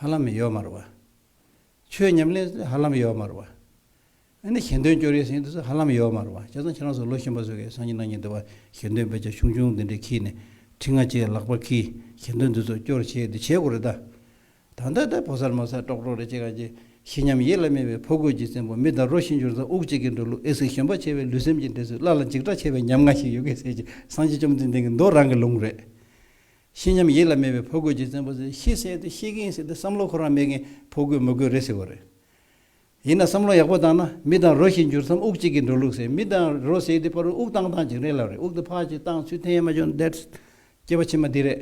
ཧ་ལམ་ཡོད་མ་རུ་བ། ཆོས་ཉམས་ལེན་སོགས་ཧ་ལམ་ཡོད་མ་རུ་བ། ཨ་ནི་གཞན་དོན་སྐྱོར་ཡས་ཟིན་ཏུ་སོགས་ཧ་ལམ་ཡོད་མ་རུ་བ། བྱས་ཙང་ཁྱེད་རང་སོགས་ལོ་གཞོན་པ་ཚོས་གས་སང་ཉིན་གནང་ཉིན་འདི་བ་གཞན་དོན་དཔེ་ཆ་ཆུང་ཆུང་འདི་འདྲས་ཁིས་ནས་ཁྲི་ལྔ་བཅས་ལག་པར་ཁིས་གཞན་དོན་འདི་ཚོ་སྐྱོར་བྱས་འདི་བྱས་དགོས་རེད་ད། ད་ལྟ་ད་ཕོ་སར་མོ་སར་ཀྲོག་ཀྲོག་རེད་ཅེས་གང་ཅེས་ཤི་སྙམ་ཡིད་ལ་སྨྲས་པའི་ཕོ་རྒོད་ཀྱི་བཙན་པོ་མི་དར་རོ་ཤི་འགྱུར་ཙང་དབུགས་གཅིག་གིས་འགྲོ་ལུགས་ཨེ་ཟིག་གཞོན་པ་ཆེ་བའི་ལུས་སེམས་ཀྱི་འབྲེལ་ཚུལ་སླ་ལ་འཇིགས་སྐྲག་ཆེ་བའི་ཉམ་ང་ཞིག་ཡོད་སྐད་ཟེར་གྱིས་སང་ཕྱི་བཅོམ་ལྡན་འདས་ཀྱི་མདོ་རང་གི་ལུང་རེད། ཤེས་སྙམ་ཡིད་ལ་མེད་པའི་ཕོ་རྒོད་ཅིག་བཙན་པོ་ཚོས་ཤི་ཟེར་ཏེ་ཤི་གིན་ཟེར་ཏེ་བསམ་བློ་ཁོ་རང་མེད་གིན་ཕོ་རྒོད་མོ་རྒོད་རེད་ཟེར་བ་རེད། ཡིན་ན་བསམ་བློ་ཡག་པོ་བཏང་ན་མི་དང་རོ་ཞིག་འགྱུར་མཚམས་དབུགས་གཅིག་གིས་འགྲོ་ལུགས་ཟེར་མི་དང་རོ་ཟེར་དེ་པར་དབུགས་བཏང་བཏང་ཅིག་རེད་ལབ་རེད་དབུགས་དེ་ཕག་ཅིག་བཏང་ཚུལ་ཐེན་ཡ་མ་ཅོན་དེད། སྐྱེས་པ་ཕྱི་མ་འདི་རེད།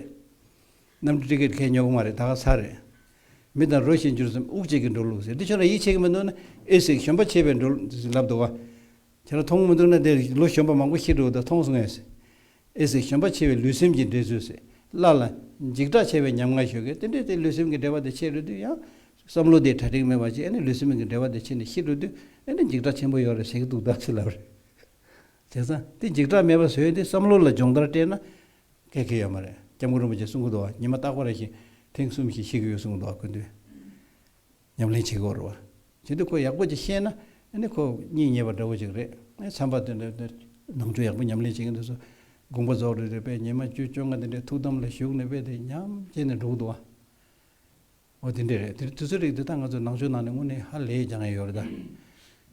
གནམ་གྲུ་ཀྲིག་ཀིར་ཁའི་ཉོ་གི་མ་རེད་ད་ག་ཚ་རེད། མི་དང་རོ་ཞིག་འགྱུར་མཚམས་དབུགས་གཅིག་གིས་འགྲོ་ལུགས་ཟེར་དེ་ཁྱོད་རང་ཡིད་ཆེས་གི་མི་འདུག་ན་ཨེ་ཟིག་གཞོན་པ་ཆེས་པས་འགྲོ་ལུགས་ཟེར་ལབ་འདུག་བ། ཁྱེད་རང་མཐོང་གི་མི་འདུག་ན་དེ་ལོ་གཞོན་པ་མང་པོ་ཤི་འགྲོ་གི་འདུག་མཐོང་སོང་ངས་ཟེར། ཨེ་ཟེར་ཞོན་པ་ཆེ་བའི་ལུས་སེམས་ཀྱི་འབྲེལ་ཚུལ་ཟེར། སླར་ལ། འཇིགས་སྐྲག་ཆེ་བའི་ཉམ་ང་ཞོ་གས་དེ་འདྲའི་དེ་ལུས་སེམས་ཀྱི་འབྲེལ་བ་དེ་ཕྱེད་རུལ་དུས་ཡང། བསམ་བློ་དེའི་གྲ་སྒྲིག་མེད་པ་ཅིག་ཨེ་ནས་ལུས་སེམས་ཀྱི་འབྲེལ་བ་དེ་ཕྱེད་ནས་ཤི་རུལ་དུས་ཨེ་ནས་འཇིགས་སྐྲག་ཆེན་པོ་ཡོད་རེད་ཟེར་གྱི་འདུག་བདག་ཚིག་ལབ་རེད། བྱས་ཙང་དེ་འཇིགས་སྐྲག་མེད་པ་བཟོས་ཏེ་བསམ་བློ་ལ་སྦྱོང་བརྡར་སྤྲད་ན། འགལ་གྱི་ཡོད་མ་རེད་སྐྱབས་མགོན་རིན་པོ་ཆེས་གསུང་གི་འདུག་བ་ཉི་མ་རྟག་པ་རེ་ཞིག་ཐེངས་གསུམ་ཞིག་ཤི་གི་ཡོད་གསུང་གི་འདུག་བ་ཀུན་འདུས། ཉམས་ལེན་བྱེད་དགོས་རེད། བྱས་འདུག་ཁོ་ཡག་པོ་ཅིག་ཤེས་ན། ནི་ཁོ་སྙིང་ཉེ་བ་འདྲ་བོ་ཅིག་རེད། ངས་འཚམས་པ་དེ་འདྲ། ནང་ཆོས་ཡག་པོ་ཉམས་ལེན་བྱེད་ཀྱིན་འདུག་ཟེར། དགོངས་པ་རྫོགས་རེད་རེད་པས་ཉི་མ་བཅུ་བཅོ་ལྔ་དེ་འདྲའི་ཐུགས་དམ་ལ་བཞུགས་ནས་དཔེ་དེ་ཉམས་བྱས་ནས་འགྲོ་གི་འདུག་ཨ། འོ་དེ་འདྲས་རེད། དེ་དུས་ཚོད་རིག་དེ་དག་ང་ཚོས་ནང་ཆོས་ནང་ནས་དངོས་གནས་ཧ་ལས་རྒྱག་ཡས་ཡོད་རེད་ད།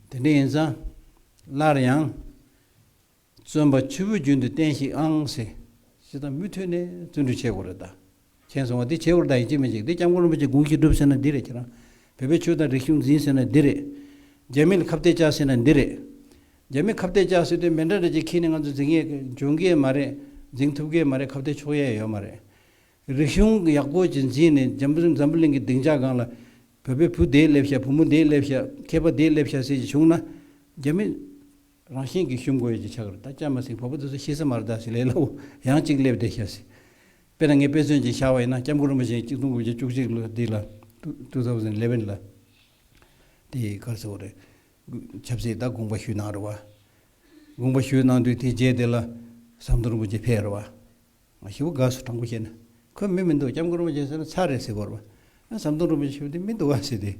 དེ་འདྲས་ཡིན་ཙང། སླར་ཡང། བཙོན་པ་ཆུ་བོའི་རྒྱུན་དུ་བསྟན་ཤིག་ཨང་ཟེར། ཅི་ད་མུ་མཐུད་ནས་བརྩོན་འགྲུས་བྱེད་དགོས་རེད་ད། མཁྱེན་སོང་བ་འདི་བྱེད་དགོས་རེད་ད་ཡིན་གཅིག་མིན་གཅིག་འདི་སྐྱབས་མགོན་རིན་པོ་ཆེ་དགུང་གཅིག་བསྒྲུབས་ཟེར་ན་འདི་རེད་ཁྱེད་རང་བོད་པའི་ཆོས་དང་རིག་གཞུང་འཛིན་ཟེར་ན་འདི་རེད། རྒྱ་མི་ལ་ཁ་བཏད་བཅག་ཟེར་ན་འདི་རེད། རྒྱ་མི་ཁ་བཏད་བཅག་ཟེར་དུས་མེ་འདྲ་འདྲ་ཅིག་ཁྱེར་ནས་ང་ཚོ་འཛིང་ཡས་འཇོན་གི་མ་རེད་འཛིང་ཐུབ་གི་མ་རེད་ཁ་བཏད་ཆོག་ཡས་ཡོད་མ་རེད། རིག་གཞུང་ཡག་པོ་ཅིག་འཛིན་ནས་འཇམ་པོ་འཛམ་བུ་གླིང་གི་སྡིངས་ཆ་སྒང་ལ། བོད་པའི་བུ་དེས་སླེབས་ཤག་བུ་མོ་དེས་སླེབས་ཤག་མཁས་པ་དེས་སླེབས་ཤག་ཟེར་གྱི་བྱུང་ན། རྒྱ་མི། རང་བཞིན་གྱིས་ཞུམ་དགོས་ཀྱི་ཆ་ག་རེ་ད་སྐྱ་མ་ཟིག་བོད་པོ་འདི་ཚོ་ཤི་ས་མ་རེ་ད་ཟིག་ལས་སླ་བོ་ཡང་གཅིག་སླེབས་བསྡད་ཤག་ཟིག། དཔེར་ན་ངས་དཔེ་མཚོན་གྱིས་བཞག་པ་ཡིན་ན་སྐྱབས་མགོན་རིན་པོ་ཆེ་གཅིག་སྟོང་དགུ་བརྒྱ་བཅུ་གཅིག་ལོ་འདི་ལ། Two Thousand Eleven། ལ་དེ་ག་རེ་ཟེར་བ་རེད། ཆབ་སྲིད་ད་དགོངས་པ་ཞུས་གནང་རེད་བ། དགོངས་པ་ཞུས་གནང་དུས་དེའི་རྗེས་དེ་ལ་ཟམ་གདོང་རིན་པོ་ཆེ་ཕེབས་རེད་བ། ང་ཞི་བོ་དགའ་བསུ་དྲང་པོ་བྱས་ན། ཁོས་མི་མི་འདུག་སྐྱབས་མགོན་རིན་པོ་ཆེ་ཟེར་ན་ཚར་རེད་ཟེར་གོ་རེ། ཨ་ཟམ་གདོང་རིན་པོ་ཆེ་ཞེས་པ་དེ་མི་འདུག་ག་ཟེར་ཏེ།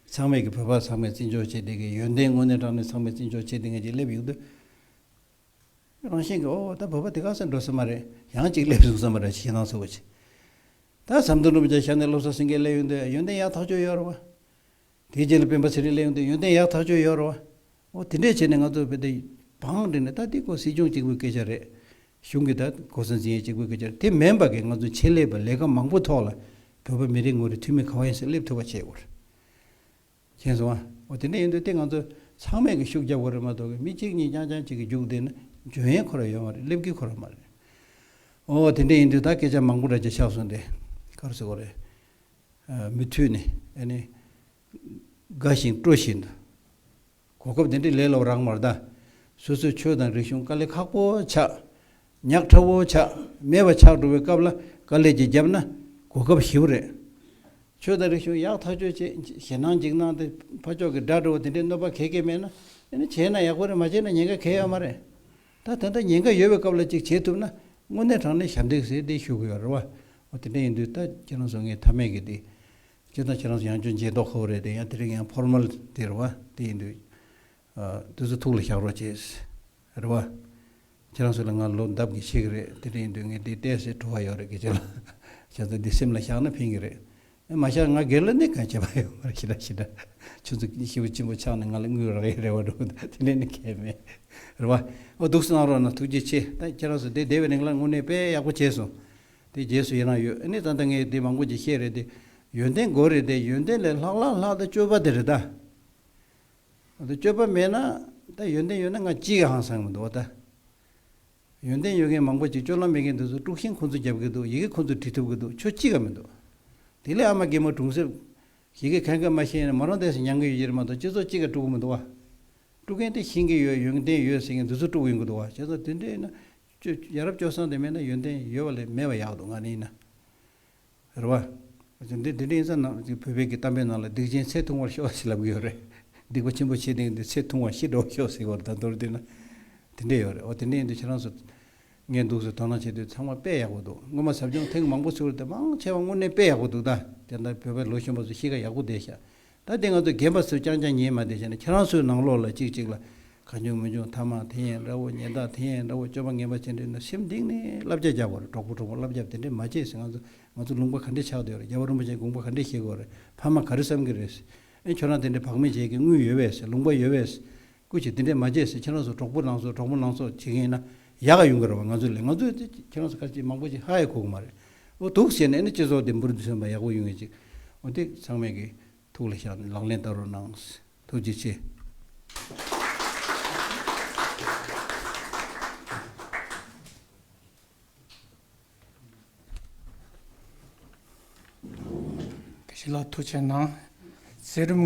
ཚང་མས་ཀྱི་བོད་པ་ཚང་མས་བརྩི་འཇོག་བྱེད་བདེ་གི་ཡོན་ཏན་དངོས་གནས་བསྒྲགས་ནས་ཚང་མས་བརྩི་འཇོག་བྱེད་བདེ་ངེས་ཅིག་སླེབས་ཡོང་དུས། རང་བཞིན་གྱིས་ཨོ་ད་བོད་པ་དེ་ག་ས་འགྲོ་ས་མ་རེད་ཡང་ཅིག་སླེབས་སོང་ས་མ་རེད་ཞེས་ཞེད་སྣང་ཚ་བོ་བྱེད། ད་ཨ་ཟམ་གདོང་རིན་པོ་ཆེ་ཞབས་ནས་སློབ་གསོ་ཟིན་གི་སླེབས་ཡོང་དུས་ཡོན་ཏན་ཡག་ཐག་ཆོད་ཡོད་རེད་བ། དེའི་རྗེས་ལ་སྤེན་པ་ཚེ་རིང་ལས་ཡོང་དུས་ཡོན་ཏན་ཡག་ཐག་ཆོད་ཡོད་རོ། འོ་དེ་འདྲས་བྱས་ནས་ང་ཚོར་བོད་དེ་བང་བསྒྲིགས་ནས་ད་འདི་ཀོ་སྲིད་སྐྱོང་གཅིག་པོའི་སྐད་ཆ་རེད། གཞུང་གི་ད་ཀོ་སྲིད་འཛིན་ཡས་གཅིག་པོའི་སྐད་ཆ་རེད་དེ་མེན་པ་གིས་ང་ཚོའི་ཆེད་ལས་པ་ལས་ཀ་མང་པོ་ཐོག་ལ་བོད་པ་མི་རེ་ངོ་རེ་འཐུས་མི་ག་བ་ཡིན་སེ་སླེབས་ཐུབ་པ་བྱེད་དགོས། མཁྱེན་སོང་ཨ། འོ་དེ་འདྲས་ཡིན་དུས་དེ་ང་ཚོ་ཚང་མས་གིས་ཤུགས་རྒྱབ་དགོས་རེད་མ་གཏོགས་གིས་མི་གཅིག་གཉིས་རྐྱང་རྐྱང་གཅིག་གིས་རྒྱུགས་བསྡད་ན་འཇོན་ཡས་ཁོ་ར་ཡོད་མ་རེད་སླེབས་གིས་ཁོ་ར་མ་རེད། འོ་དེ་འདྲས་ཡིན་དུས་ད་སྐད་ཆ་མང་པོ་འདྲ་རྒྱ་ཆགས་སོང་དེ་ག་རུ་སེ་གོ་རེད། མུ་མཐུད་ནས་དགའ་ཞིང་སྤྲོ་བཞིན་དུ། གོ་སྐབས་འདི་འདྲས་ལས་ལོག་རང་མ་གདའ། སོ་སོའི་ཆོས་དང་རིག་གཞུང་དཀའ་ལས་ཁག་པོ་ཆགས། ཉག་ཕྲ་བོ་ཆགས་མེད་པ་ཆགས་འགྲོ་བའི་སྐབས་ལ་དཀའ་ལས་ཀྱིས་བརྒྱབ་ན་གོ་སྐབས་ཞིབ་རེད། ཆོས་དང་རིག་གཞུང་ཡག་ཐག་ཆོད་ཅེས་ཞེད་སྣང་འཇིགས་སྣང་དེ་ཕ་ཕྱོགས་ཀྱི་དགྲ་འདྲ་བོ་དེ་འདྲས་གནོད་པ་གལ་ཀེ་མེད་ན། བྱས་ན་ཡག་པོ་རེད་མ་བྱས་ན་ཉེན་ཁ་གལ་ཡོད་མ་རེད། ད་ད་ལྟ་ཉེན་ཁ་ཡོད་པའི་སྐབས་ལ་ཅིག་བྱེད་ཐུབ་ན་དངོས་གནས་དྲང་གནས་ཞབས་འདེགས་ཟེར་དེ་ཞུ་དགོས་རེད་བ། འོ་དེ་འདྲ་ཡིན་དུས་ད་ཁྱེད་རང་ཚོ་ངའི་མཐའ་མེད་གི་དེ། སྤྱིར་བཏང་ཁྱེད་རང་ཚོ་ཡང་ཅུང་མཇེས་རྟོགས་ཁོ་བོ་རེད་དེ་ཡང་དེ་རིང་ཡང་ཕོར་མལ་དེ་རེད་བ་དེ་ཡིན་དུས། དུས་ཚོད་ཐུགས་ལ་བཞག་རོགས་བྱས། རེད་བ། ཁྱེད་རང་ཚོ་ལ་ང་ལོ་འདབ་ཀྱི་ཆེ་གི་རེད་དེ་འདྲ་ཡིན་དུས་ངས་དེ་བལྟས་ཟེར་བྲོ་བ་ཡོད་རེད་གི་ཁྱེད་རང་ཚོ་འདི་སེམས་ལ་བཞག་ན་ཕན་གི་རེད། མ་ཤར་ང་སྒེར་ལ་ནི་གང་བྱས་པ་ཡོད་མ་རེད་ཞེས་ལབ་ཤེས་ན། ཁྱོད་ཚོ་གཉིས་ཤི་བོ་གཅེན་པོ་ཆགས་ནས་ང་ལ་དངུལ་རག་ཡས་རེད་བ་འགྲོ་འདུག་དེ་ལས་ནི་མཁས་མེད། རེད་བ། འོ་སྡུག་གསོ་གནང་རོགས་གནང་ཐུགས་རྗེ་ཆེ། ད་ཁྱེད་རང་ཚོ་དེ་སྡེ་བའི་རིང་ལ་དངོས་གནས་དཔེ་ཡག་པོ་བྱས་སོང། དེ་རྗེས་སུ་ཡི་རངས་ཡོད་ཨ་ནི་ད་ལྟ་ངའི་དེ་མང་པོ་ཅིག་ཤེས་རེད་དེ། ཡོན་ཏན་དགོས་རེད་དེ་ཡོན་ཏན་ལས་ལྷག་ལྷག་ལྷག་ད་སྤྱོད་པ་དེ་རེད་ད། འོ་ད་སྤྱོད་པ་མེད་ན། ད་ཡོན་ཏན་ཡོད་ན་ང་ཅིའི་ཧང་སངས་མི་འདུག་འོ་ད། ཡོན་ཏན་ཡོད་མཁན་མང་པོ་ཅིག་སྤྱོད་ལམ་མེད་མཁན་དེ་ཚོ་དཀྲུགས་ཤིང་ཁོ་ཚོ་རྒྱབ་གི་འདུག་ཡི་གེ་ཁོ་ཚོས་བྲི་ཐུབ་གི་འདུག་ཆོས་ཅི་ག་མི་འདུག། དེ་ལས་ཨ་མ་རྒན་མོ་གྲུང་གསེབ། ཡི་གེ་གང་གི་མ་ཤེས་ནས་མ་རང་འདས་སུ་མྱང་གི་ཡོད་ཀྱི་རེད་མ་གཏོགས་སྤྱི་ཚོགས་ཅི་ག་དཀྲུགས་གི་མི་འདུག་བ། དཀྲུགས་མཁན་དེ་ཤེས་ཀྱི་ཡོད་ཡོན་ཏན་ཡོད་ཟེར་མཁན་དེ་ཚོ་དཀྲུགས་ཡིན་གི་འདུག་བ་བྱས་ཙང་དེ་འདྲའི་ཡིན་ན། ཡ་རབས་སྤྱོད་བཟང་དེ་མེད་ན་ཡོན་ཏན་ཡོད་པ་ལས་མེད་པ་ཡག་འདུག་ང་ནི་ཡིན་ན། རེད་བ། འདི་འདི་འདྲའི་ཡིན་ས་ན་བོད་པའི་གི་གཏམ་དཔེ་ནང་ལ་སྡིག་ཅན་ཚེ་ཐུང་བར་ཤོག་ཟེ་ལབ་གི་ཡོད་རེད། སྡིག་པ་ཆེན་པོ་བྱེད་དེ་འདི་ཚེ་ཐུང་བར་ཤི་འགྲོ་བར་ཤོག་ཟེ་བར་ད་མདོར་བསྡུས་ན། དེ་འདྲས་ཡོད་རེད་བ་དེ་འདྲས་ཡིན་དུས་ཁྱེད་རང་ཚོ། ངས་འདུག་ཟེ་དོ་སྣང་བྱེད་དུས་ཚང་མ་དཔེ་ཡག་པོ་འདུག་སྔོན་མ་ཟབ་སྦྱོང་ཐེངས་མང་པོ་ཚུགས་རེད་དེ་མང་ཆེ་བ་དངོས་གནས་དཔེ་ཡག་པོ་འདུག་ད་དེ་འདྲ་བོད་པའི་ལོ་གཞོན་པ་ཚོ་གཤིས་ཀ་ཡག་པོ་བསྡད་ཤག་ད་དེ་ང་ཚོ་རྒན་པ་ཚོས་རྐྱང་རྐྱང་ཉན་མ་བསྡད་བྱས་ན་ཁྱེད་རང་ཚོའི་ནང་ལོགས་ལ་ཅིག་ཅིག་ལ་གང་བྱུང་མི་འབྱུང་ཐ་མག་དེ་ཡན་འདྲ་བོ་ཉན་བདག་དེ་ཡན་འདྲ་བོ་སྤྱོད་པ་ངན་པ་བྱས་འདྲེ་ན་ཞིམ་སྡིག་ནས་བསླབ་བྱ་རྒྱག་དགོས་རེད་གྲོགས་པོ་གྲོགས་མོ་བསླབ་བྱ་དེ་འདྲེ་མ་བྱས་ཟིན་ང་ཚོ་ང་ཚོ་ལུང་པ་ག་འདྲེ་ཆགས་འདོད་རེད་རྒྱལ་བ་རིན་པོ་ཆེ་དགོངས་པ་ག་འདྲེ་བཞེས་དགོས་རེད་ཕ་མ་ག་རེ་བསམ་གི་རེད། ཨེ་ཁྱོད་རང་དེ་འདྲེ་བག་མེད་བྱེད་ཀྱི་དངུལ་ཡོད་བས་ལུང་པ་ཡོད་བས། སྐུ་ཞིག་འདི་འདྲས་མ་བྱས་ཟེར་ཁྱེད་རང་ཚོ་གྲོགས་པོ་ནང་ཚོ་གྲོགས་མོ་ནང་ཚོ་བྱེད་མཁན་ཡིན་ན་ཡག་ག་ཡོང་གི་རེད་བ་ང་ཚོ་ལས་ང་ཚོ་ཁྱེད་རང་ཚོ་ཁ་ཅིག་མང་པོ་ཞིག་ཧ་ཧའི་ཁུག་མ་རེད་འོ་དུག་བྱས་ནས་ཨེ་ནི་སྤྱི་ཚོགས་འདི་འབུར་འདི་སོན་པ་ཡག་པོ་ཡོང་ངེས་ཅིག་འོ་དེ་ཚང་མས་གི་ཐུགས་ལ་བཞག་ནས་ལག་ལེན་བསྟར་རོགས་གནང་ཐུགས་རྗེ་ཆེ། གཞི་ལ་ཐུགས་ཆེ་གནང། ཚེ་རིང།